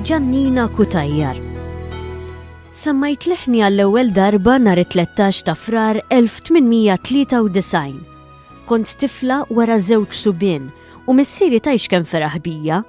Ġannina Cutajar Semmajt leħni għall-ewwel darba nhar it-13 ta' Frar 1893. Kont tifla wara żewġ subien u missieri tajx kemm feraħ bija.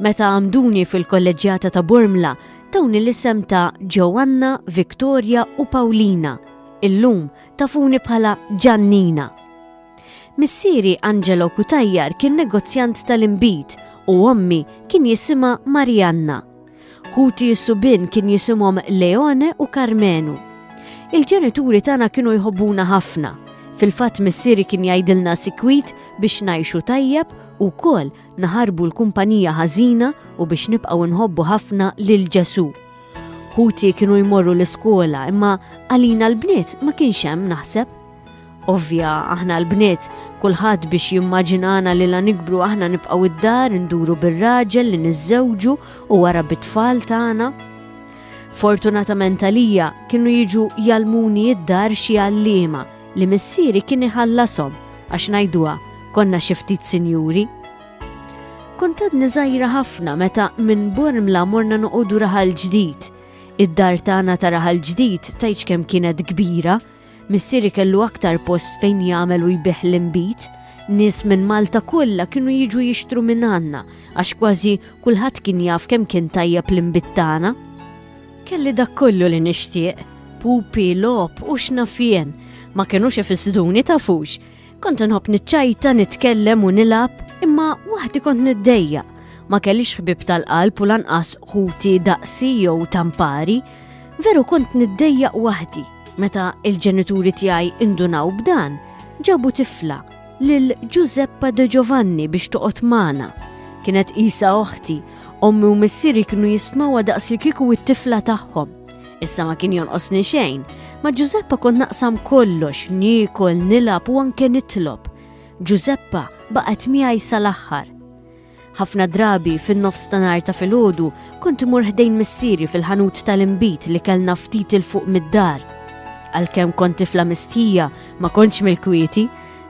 Meta għamduni fil-kolleġġjata ta' Bormla tawni l-isem ta' Ġoanna, Victoria u Paulina. Illum tafuni bħala Ġannina. Missieri Angelo Cutajar kien negozjant tal-inbid u ommi kien jisimha Marianna. Ħuti s-subin kien jisimhom Leone u Carmenu. Il-ġenituri tagħna kienu jħobbuna ħafna. Fil-fatt missieri kien jgħidilna sikwit biex ngħixu tajjeb u kol naħarbu l-kumpanija ħażina u biex nibqgħu nħobbu ħafna lil Ġesu. Ħuti kienu jmorru l-iskola imma għalina l-bniet ma kienx hemm naħseb. Ovvja, aħna l-bniet, kulħadd biex jimmaġinana li la nikbru aħna nibqgħu id-dar induru bir-raġel li niżżewġu u wara bit-tfal tagħna. Fortunatament għalija kienu jiġu jalmuni id-dar xi għalliema li missieri kien iħallasom għax ngħiduha konna xi ftit sinjuri. Kuntat niżajra ħafna meta minn Bormla morna noqogħdu raħal ġdid. Id-dar tagħna ta' raħal ġdid tajċ kemm kienet kbira, Missieri kellu aktar post fejn jagħmel u jbigħ l-inbid. Nies minn Malta kollha kienu jiġu jixtru minn għandna għax kważi kulħadd kien jaf kemm kien tajjeb l-inbid tagħna. Kelli dak kollu li nixtieq, pupi, logħob u x'naf jien. Ma kinux ifissduni tafux. Kont nħobb niċċajta, nitkellem u nilab, imma waħdi kont niddejja. Ma kellix ħbib tal-qalb u lanqas ħuti daqsi jew tampari. Veru kont niddejja waħdi meta il-ġenituri tiegħi indunaw b'dan, ġabu tifla lil Giuseppa de Giovanni biex toqgħod magħna. Kienet isa oħti, ommi u missieri kienu jismawa daqsi kiku it-tifla tagħhom. Issa ma kien jonqosni xejn, ma' Ġużeppa kont naqsam kollox, niekol, nilab u anke nitlob. Ġużeppa baqgħet miegħi sal-aħħar. Ħafna drabi fin-nofs ta' nar ta' filgħodu kont imur ħdejn missieri fil-ħanut tal-imbit li kellna ftit il fuq mid-dar. Għalkemm kont tifla mistħija ma kontx mill-kwieti,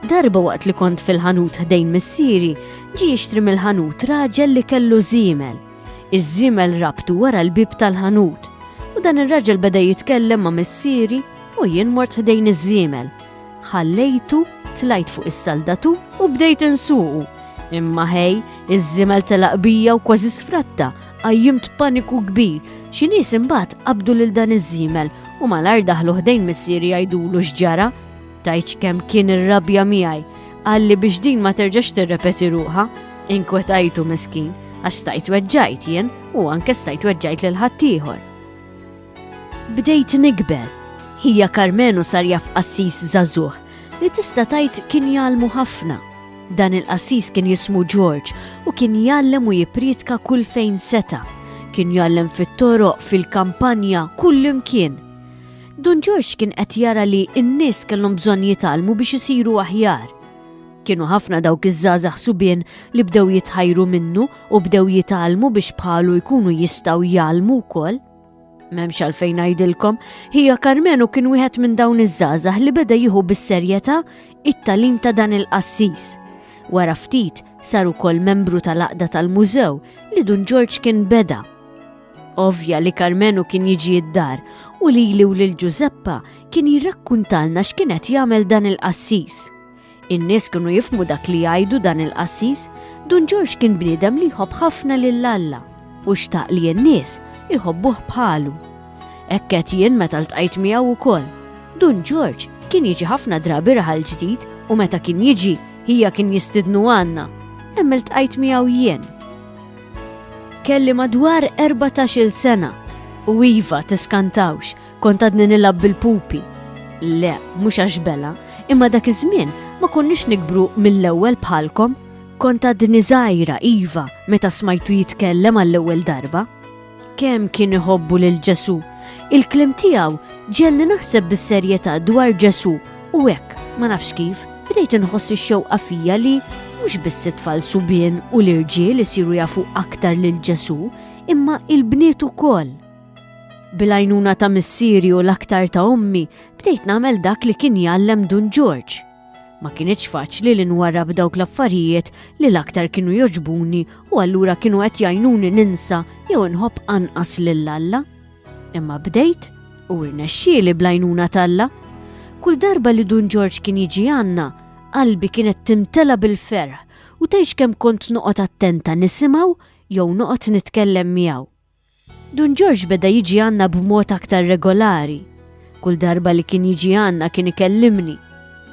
darba waqt li kont fil-ħanut ħdejn missieri, ġi jixtri mill-ħanut raġel li kellu żiemel. Iż-żiemel rabtu wara l-bieb tal-ħanut u dan ir-raġel beda jitkellem ma' missieri u jien mort ħdejn iż-żiemel. Ħallejtu, tlajt fuq is-saldatu u bdejt insuqu. Imma ħej, iż-żiemel telaq bija u kważi sfratta, qajjimt paniku kbir, xi nies imbagħad qabdu lil dan iż-żiemel u malajr daħlu ħdejn missieri jgħidulu x'ġara. Tajċ kemm kien ir-rabja miegħi, għalli biex din ma terġax tirrepeti ruħa, inkwetajtu miskin, għax stajt weġġajt jien u anke stajt weġġajt lil ħaddieħor. Bdejt nikber, hija Karmenu sar jaf qassis zazuħ li tista' tajt kien jalmu ħafna. Dan il-qassis kien jismu George u kien jallem u jiprietka kull fejn seta. Kien jallem fit-toroq, fil-kampanja, kull imkien. Dun Ġorġ kien qed jara li n-nies kellhom bżonn jitgħallmu biex isiru aħjar. Kienu ħafna dawk iż-żgħażagħ subien li bdew jitħajru minnu u bdew jitgħallmu biex bħalu jkunu jistgħu jgħallmu wkoll. M'hemmx għalfejn ngħidilkom, hija Karmenu kien wieħed minn dawn iż-żgħażagħ li beda jieħu bis-serjetà it-talim ta' dan il-qassis. Wara ftit sar ukoll membru tal-aqda tal-mużew li Dun Ġorġ kien beda. Ovvja li Karmenu kien jiġi id-dar u li li u lil Ġużeppa kien jirrakkuntalna x'kienet jagħmel dan il-qassis. In-nies kienu jifmu dak li jgħidu dan il-qassis, Dun Ġorġ kien bniedem li jħobb ħafna lil Alla u xtaq li n-nies iħobbuh bħalu. Ekket jien meta ltqajt miegħu wkoll. Dun Ġorġ kien jiġi ħafna drabi raħal ġdid u meta kien jiġi hija kien jistidnu għandna. Hemm iltqajt miegħu jien Kelli madwar 14-il sena u iva tiskantawx kont għadni nilgħab bil-pupi. Le, mhux għax bela, imma dak iż-żmien ma konniex nikbru mill-ewwel bħalkom. Kont għadni żgħira iva meta smajtu jitkellem għall-ewwel darba. Kemm kien iħobbu lil Ġesù. Il-kliem tiegħu ġelni naħseb bis-serjetà dwar Ġesù u hekk, ma nafx kif, bdejt inħoss ix-xewqa fija li mhux biss it-tfal subien u l-irġiel isiru jafu aktar lil Ġesù, imma il-bniet ukoll. Bil-għajnuna ta' missieri u l-aktar ta' ommi, bdejt nagħmel dak li kien jgħallem Dun Ġorġ. Ma kinitx faċli li nwarrab dawk l-affarijiet li l-aktar kienu joġbuni u allura kienu qed jgħinuni ninsa jew inħobb anqas lil Alla. Imma bdejt u rnexxieli blajnuna t'Alla. Kull darba li Dun Ġorġ kien jiġi għandna, qalbi kienet timtela bil-ferħ u tgħix kemm kont noqgħod attenta nisimgħu jew noqgħod nitkellem miegħu. Dun Ġorġ beda jiġi għandna b'mod aktar regolari. Kull darba li kien jiġi għandna kien ikellimni.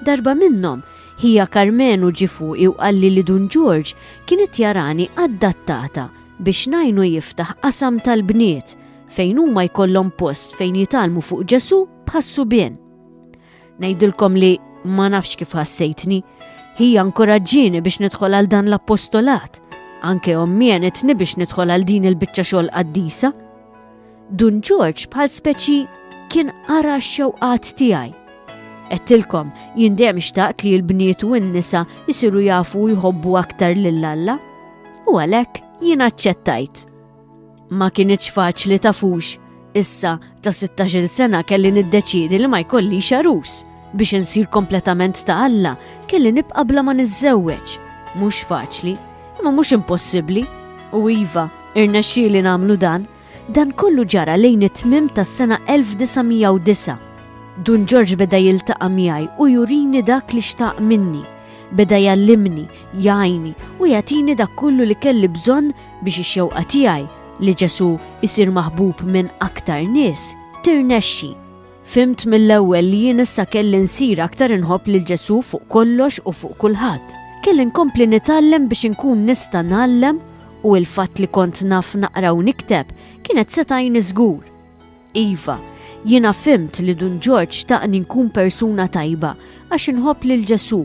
Darba minnhom, ħija Karmenu ġie fuqi u qalli li Dun Ġorġ kien qed jarani adattata biex ngħinu jiftaħ qasam tal-bniet fejn huma jkollhom post fejn jitgħallmu fuq Ġesù bħas-subien. Ngħidilkom li ma nafx kif ħassejtni, hija nkoraġġini biex nidħol għal dan l-appostolat, anke ommi għenitni biex nidħol għal din il-biċċa xogħol qaddisa. Dun Ġorġ bħal speċi kien ara x-xewqat tiegħi. Qedtilkom jien dejjem xtaqt li l-bniet u n-nisa jisiru jafu jħobbu aktar lil Alla. U għalhekk jien aċċettajt. Ma kinitx faċli tafux. Issa, ta' 16-il sena kelli niddeċiedi li ma jkollix arus. Biex insir kompletament ta' Alla, kelli nibqa' bla ma niżżewweġ. Mhux faċli, imma mhux impossibbli. U iva, irnexxieli nagħmlu dan. Dan kollu ġara lejn it-tmiem tas-sena 1909. Dun Ġorġ beda jiltaqa' miegħi u jurini dak li xtaq minni. Beda jallimni, jgħini u jagħtini dak kollu li kelli bżonn Biex ix-xewqa tiegħi li Ġesù jsir maħbub minn aktar nies tirnexxi. Fhimt mill-ewwel li jien issa kelli nsir aktar inħobb lil Ġesù fuq kollox u fuq kulħadd. Kelli nkompli nitgħallem biex inkun nista' ngħallem u l-fatt li kont naf naqra u nikteb kienet setgħini żgur. Iva, jiena fhimt li Dun Ġorġ xtaqni nkun persuna tajba għax inħobb lil Ġesù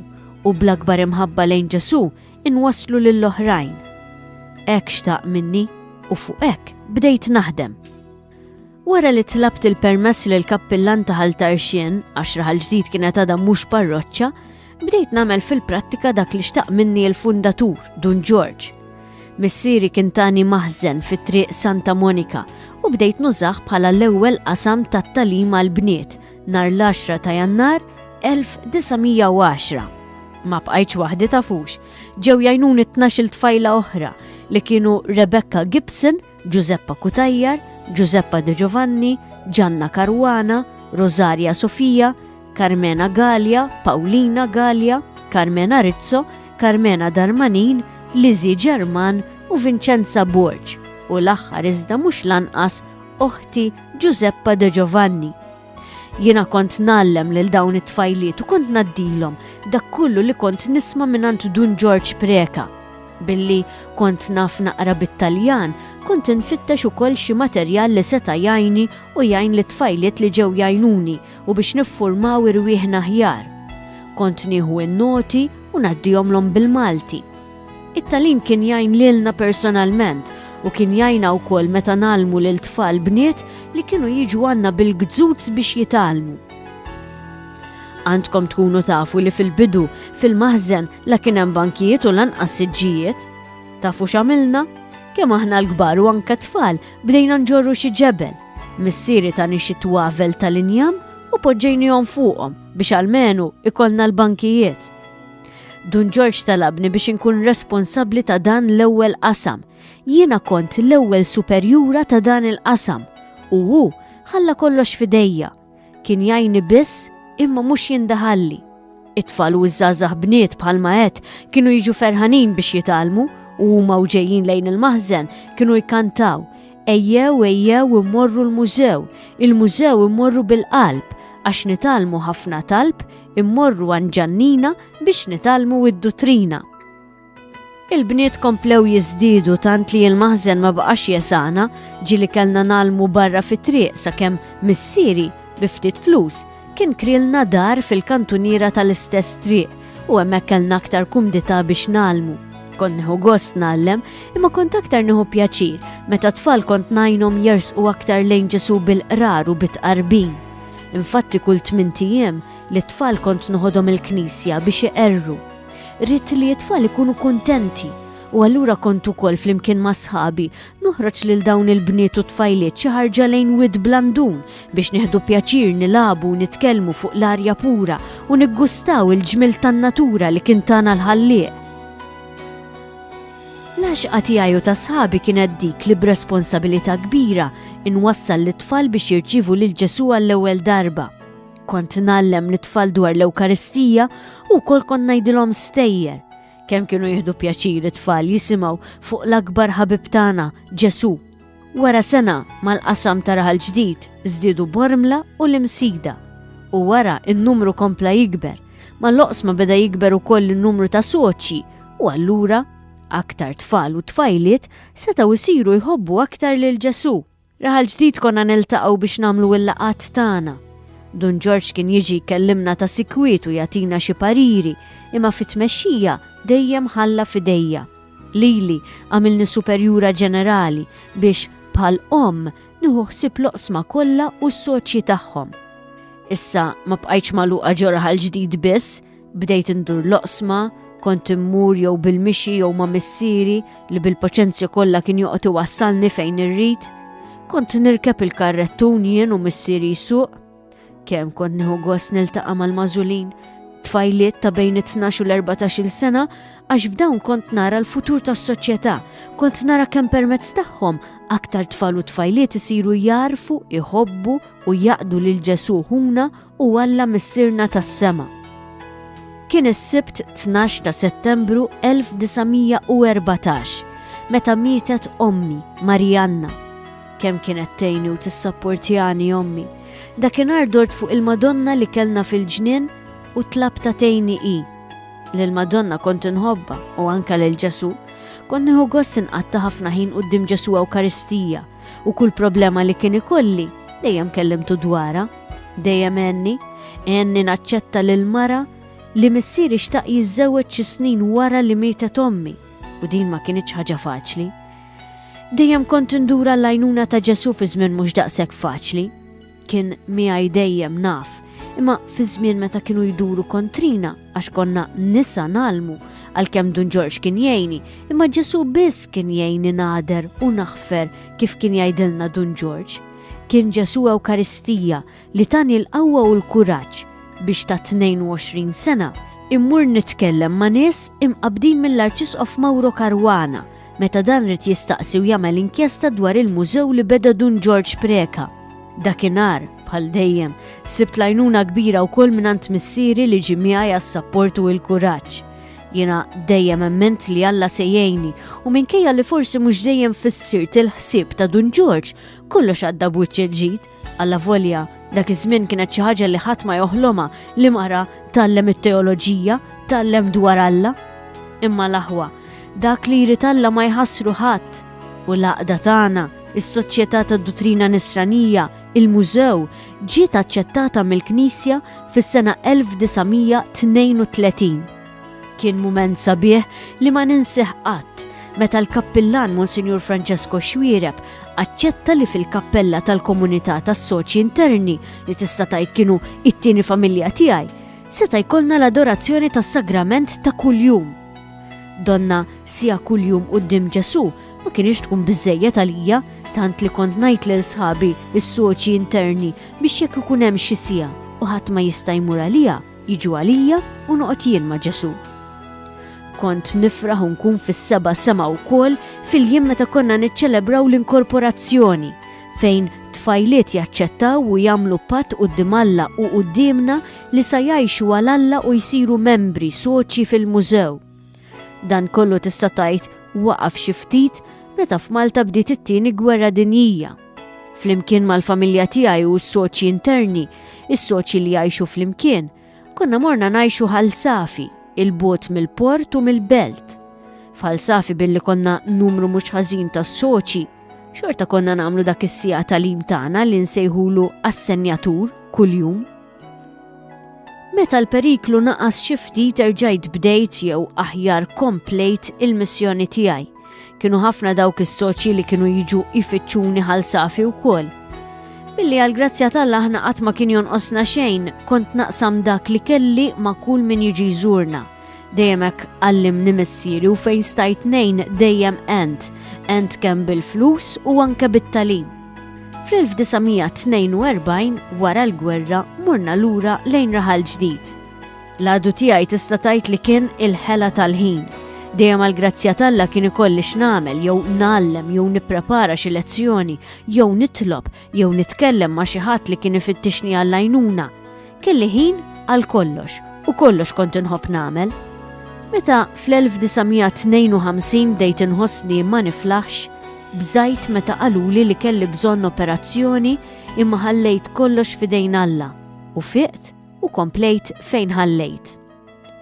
u bl-akbar imħabba lejn Ġesù inwasslu lill-oħrajn. Hekk xtaq minni u fuq hekk bdejt naħdem. Wara li tlabt il-permess lil kappillan ta' Ħal Tarxien, għax Raħal Ġdid kienet għadha mhux parroċċa, Bdejt nagħmel fil-prattika dak li xtaq minni l-fundatur, Dun George. Missieri kien tani maħżen fit-triq Santa Monika u bdejt nużaħ bħala l-ewwel qasam tat-talim għal bniet nar l-10 ta' Jannar 1910. Ma bqajtx waħdi tafux, ġew jajnuni t-tnax il-tfajla oħra li kienu Rebecca Gibson Ġużeppa Cutajar, Ġużeppa De Giovanni, Ġanna Caruana, Rosaria Sofia, Carmena Gallia, Paulina Gallia, Carmena Rizzo, Carmena Darmanin, Lizzie Ġerman u Vincenza Borg u l-aħħar iżda mhux lanqas oħti Ġużeppa De Giovanni Jiena kont nallem lil dawn it-tfajliet u kont naddilhom dak kollu li kont nisma' mingħand Dun George Preka. Billi kont naf naqra bit-Taljan, kont infittex ukoll xi materjal li seta' jgħinni u jgħin lit-tfajliet li ġew jgħinuni u biex niffurmaw irwieħna aħjar. Kont nieħu n-noti u ngħaddihomlhom bil-Malti. It-tagħlim kien jgħin lilna personalment u kien jgħinna wkoll meta nagħlmu lil tfal bniet li kienu jiġu għandna bil-gżuz biex jitgħallmu. Għandkom tkunu tafu li fil-bidu, fil-maħżen, la kien hemm bankijiet u lanqas siġġijiet. Tafu x'għamilna? Kemm aħna l-kbar u anke tfal bdejna nġorru xi ġebel. Missieri ta' nixi twavel tal-injam u poġġejnihom fuqhom biex almenu ikollna l-bankijiet. Dun Ġorġ talabni biex inkun responsabbli ta' dan l-ewwel qasam. Jiena kont l-ewwel superjura ta' dan il-qasam u hu ħalla kollox fidejja. Kien jajni biss imma mhux jindaħalli. It-tfal u ż-żgħażagħ bniet bħalma qed kienu jiġu ferħanin biex jitalmu u huma u ġejjin lejn il-maħżen kienu jkantaw ejjew ejjew immorru l-mużew, il-mużew immorru bil-qalb għax nitalmu ħafna talb immorru għan ġannina biex nitalmu id-duttrina. Il-bniet komplew jizdidu tant li il-maħzen ma baqax jesana ġili kellna nalmu barra fit-triq sakemm missieri biftit flus kien krilna dar fil-kantuniera tal-istess triq u hemmhekk kellna aktar kumdità biex nalmu. Kont neħu gost nallem, imma kont aktar neħu pjaċir meta tfal kont najnom jersqu aktar lejn ġesu bil-qrar u bit-qarbin. Infatti kull tmint ijiem lit-tfal kont noħodhom il-knisja biex iqerru. Ridt li t-tfal ikunu kuntenti u allura kont ukoll flimkien ma' sħabi noħroġ lil dawn il-bniet u tfajliet xi ħarġa lejn Wied Blandun biex nieħdu pjaċir nilagħbu u nitkellmu fuq l-arja pura u niggustaw il-ġmiel tan-natura li kien tana l-Ħallieq. L-għaxqa tiegħi u ta' sħabi kienet dik li b'responsabilità kbira nwassal lit-tfal biex jirċievu lil Ġesù għall-ewwel darba. Kont ngħallem lit-tfal dwar l-Ewkaristija u wkoll kont ngħidilhom stejjer. Kemm kienu jieħdu pjaċir it-tfal jisimgħu fuq l-akbar ħabib tagħna, Ġesù! Wara sena mal-qasam ta' Raħal Ġdid żdiedu Bormla u l-Imsida u wara n-numru kompla jikber ma l-oqsma beda jikber ukoll in-numru ta' soċji u allura aktar tfal u tfajliet setgħu jsiru jħobbu aktar lil Ġesù. Raħal Ġdid konna niltaqgħu biex nagħmlu l-laqgħat tagħna. Dun Ġorġ kien jiġi jkellimna ta' sikwit u jagħtina xi pariri imma fit-tmexxija dejjem ħalla f'idejja. Lili għamilni Superjura Ġenerali biex, bħal omm, nieħu ħsieb l-oqsma kollha u s-soċji tagħhom. Issa ma bqajtx magħluqa ġo raħal ġdid biss, bdejt indur l-oqsma, kont immur jew bil-mixi jew ma' missieri li bil-paċenzja kollha kien joqgħod iwassalni fejn irrid. Kont nirkeb il-karrettun jien u missieri jsuq. Kemm kont nieħu gost niltaqa' mal-mażulin, tfajliet ta' bejn it-12 u l-14 sena għax f'dawn kont nara l-futur tas-soċjetà, kont nara kemm permezz tagħhom aktar tfal u tfajliet isiru jarfu, iħobbu u jaqdu lil Ġesu ħuna u Alla Missirna tas-sema. Kien is-Sibt 12 ta' Settembru 1914 meta mietet ommi Marianna Kemm kienet tgħinni u tissapportjani ommi. Dakinhar dort fuq il-Madonna li kellna fil-ġnien u tlab ta' tgħinni hi. Lill-Madonna kont inħobba u anka lil Ġesu, kont nieħu gost inqatta' ħafna ħin quddiem Ġesu Ewkaristija u kull problema li kien ikolli dejjem kellimtu dwarha. Dejjem għenni, għenni naċċetta lil mara li missieri xtaq jiżżewweġ xi snin wara li mietet ommi u din ma kienitx ħaġa faċli. Dejjem kont indura l-għajnuna ta' Ġesu fi żmien mhux daqshekk faċli. Kien miegħi dejjem naf, imma fi żmien meta kienu jduru kontrina għax konna nisa nalmu għalkemm Dun Ġorġ kien jgħini, imma Ġesu biss kien jgħini nader u naħfer kif kien jgħidilna Dun Ġorġ. Kien Ġesu Ewkaristija li tani l-qawwa u l-kuraġġ biex ta' 22 sena immur nitkellem ma' nies imqabdin mill-Arċisqof Mauro Caruana meta dan rid jistaqsi u jagħmel inkjesta dwar il-mużew li beda Dun George Preka. Dakinhar, bħal dejjem, sibt lajnuna kbira wkoll mingħand missieri li ġi miegħi għas-sapport u l-kuraġġ. Jiena dejjem emment li Alla se jgħinni u minkejja li forsi mhux dejjem fissirt il-ħsieb ta' Dun George, kollox għadda b'wiċċ il-ġid. Allavolja dak iż-żmien kienet xi ħaġa li ħadd ma joħlomha li mara tgħallem it-teoloġija, tgħallem dwar Alla. Imma l-aħwa, dak li jrid Alla ma jħassru ħadd u l-għaqda tagħna, is-Soċjetà tad-Duttrina Nisranija, il-mużew, ġiet aċċettata mill-Knisja fis-sena 1932. Kien mument sabiħ li ma ninsih qatt meta l-Kappillan Monsinjur Francesco Xwiereb aċċetta li fil-kappella tal-komunità tas-soċji interni li tista' tgħid kienu it-tieni familja tiegħi, seta' jkollna l-adorazzjoni tas-sagrament ta' kuljum. Donna sija kuljum quddiem Ġesu ma kienx tkun biżejjed għalija tant li kont ngħid lil sħabi is-soċji interni biex jekk ikun hemm xi sija u ħadd ma jista' jmur għalija, Jiġu għalija u noqgħod jien ma' Ġesu. Kont nifraħ u nkun fis-seba sema wkoll fil-jiem meta konna niċċelebraw l-inkorporazzjoni fejn tfajliet jaċċettaw u jagħmlu patt quddiem Alla u quddiemna li sa jgħixu għal Alla u jsiru membri soċji fil-mużew. Dan kollu tista' tgħid waqaf xi ftit meta f'Malta bdiet it-tieni gwerra dinjija. Flimkien mal-familja tiegħi u s-soċji interni, is-soċji li jgħixu flimkien, konna morna ngħixu ħal safi, il-bot mill-port u mill-belt. F'ħal safi billi konna numru mhux ħażin tas-soċji, xorta konna nagħmlu dak is-sija tal-im tagħna li nsejħulu assenjatur kuljum. Meta l-periklu naqas xi ftit erġajt bdejt jew aħjar komplejt il-missjoni tiegħi. Kienu ħafna dawk is-soċji li kienu jiġu jfittxuni ħal safi wkoll. Billi għal grazzja tal aħna qatt ma kien jonqosna xejn, kont naqsam dak li kelli ma' kull min jiġi jżurna. Dejjem hekk għallimni missieri u fejn stajt nejn dejjem ent, ent kemm bil-flus u anke bit-talim. Fl-1942 wara l-gwerra morna lura lejn raħal ġdid. L-għadu tiegħi tista' tajt li kien il-ħela tal-ħin. Dejjem għal grazzja talla kien ikolli x'namel jew nallem jew nipprepara xi lezzjoni jew nitlob jew nitkellem ma' xi ħadd li kien ifittixni għall-għajnuna, kelli ħin għal kollox u kollox kont inħobb nagħmel. Meta fl-1952 bdejt inħossni ma niflaħx, bżajt meta qaluli li kelli bżonn operazzjoni imma ħallejt kollox fidejn Alla u fiqt u komplejt fejn ħallejt.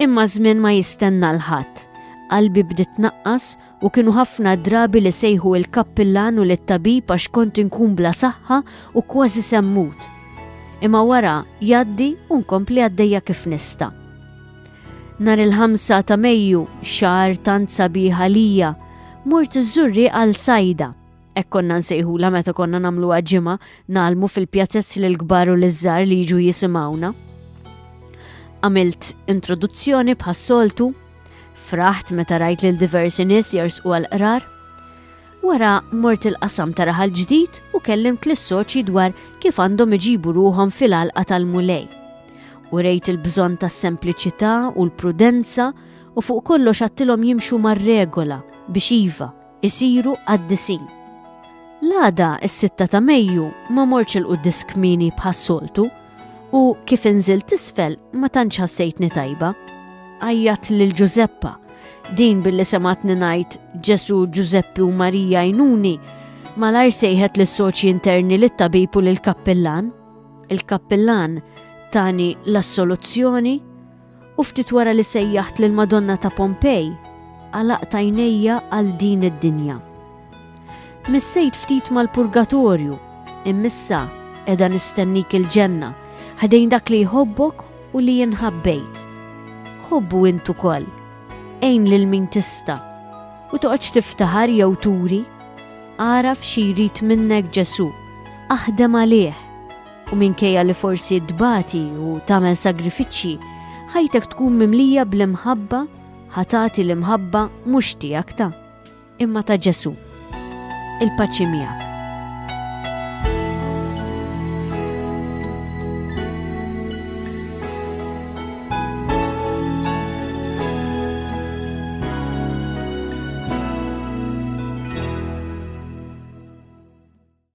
Imma żmien ma jistenna l-ħadd, qalbi bdiet naqqas u kienu ħafna drabi li sejħu il-kappillan u lit-tabib għax kont inkun bla saħħa u kważi semmut. Imma wara jaddi u nkompli għaddejja kif nista. Nar il-5 ta' Mejju, xar tant sabiħa lija, mort iżżurri għal sajda. Hekk konna nsejħulha meta konna nagħmluha ġimgħa, nagħlmu fil-pjazez lil kbar u lil żgħar li jiġu jisimgħuna. Għamilt introduzzjoni bħas-soltu, fraħt meta rajt lil diversi nies jersqu għal qrar. Wara mort il-qasam ta' raħal ġdid u kellimt l-soċi dwar kif għandhom iġibu ruhom fil-alqa tal-mulej. U rejt il-bżon tas sempliċità u l-prudenza u fuq kollox għattilhom jimxu mar-regola biex iva isiru qaddisin. L-għada s-sitta ta' Mejju ma morċ il-quddis kmini bħas-soltu u kif inżilt isfel ma tantx ħassejtni tajba. Għajjat lil Ġużeppa, din billi sematni ngħid Ġesu Ġużeppi u Marija jnuni, malajr sejħet lis soċi interni lit tabib u lill kappillan Il-kappillan tani l-assoluzzjoni u ftit wara li sejjaħt lill-Madonna ta' Pompej, għalaqt għajnejja għal din id-dinja. Missejt ftit mal-purgatorju, immissa edha nistennik il-ġenna, ħadejn dak li jħobbok u li jinħabbejt. Ħobbu intu koll, ejn lil min tista' u toqgħodx tiftaħar jew turi, għaraf xi jrid minnek Ġesu, aħdem għalih U minkejja li forsi tbati u tagħmel sagrifiċċji, ħajtek tkun mimlija bl-imħabba, ħatati l-imħabba mhux tiegħek ta' imma ta' Ġesu. Il-paċi miegħek.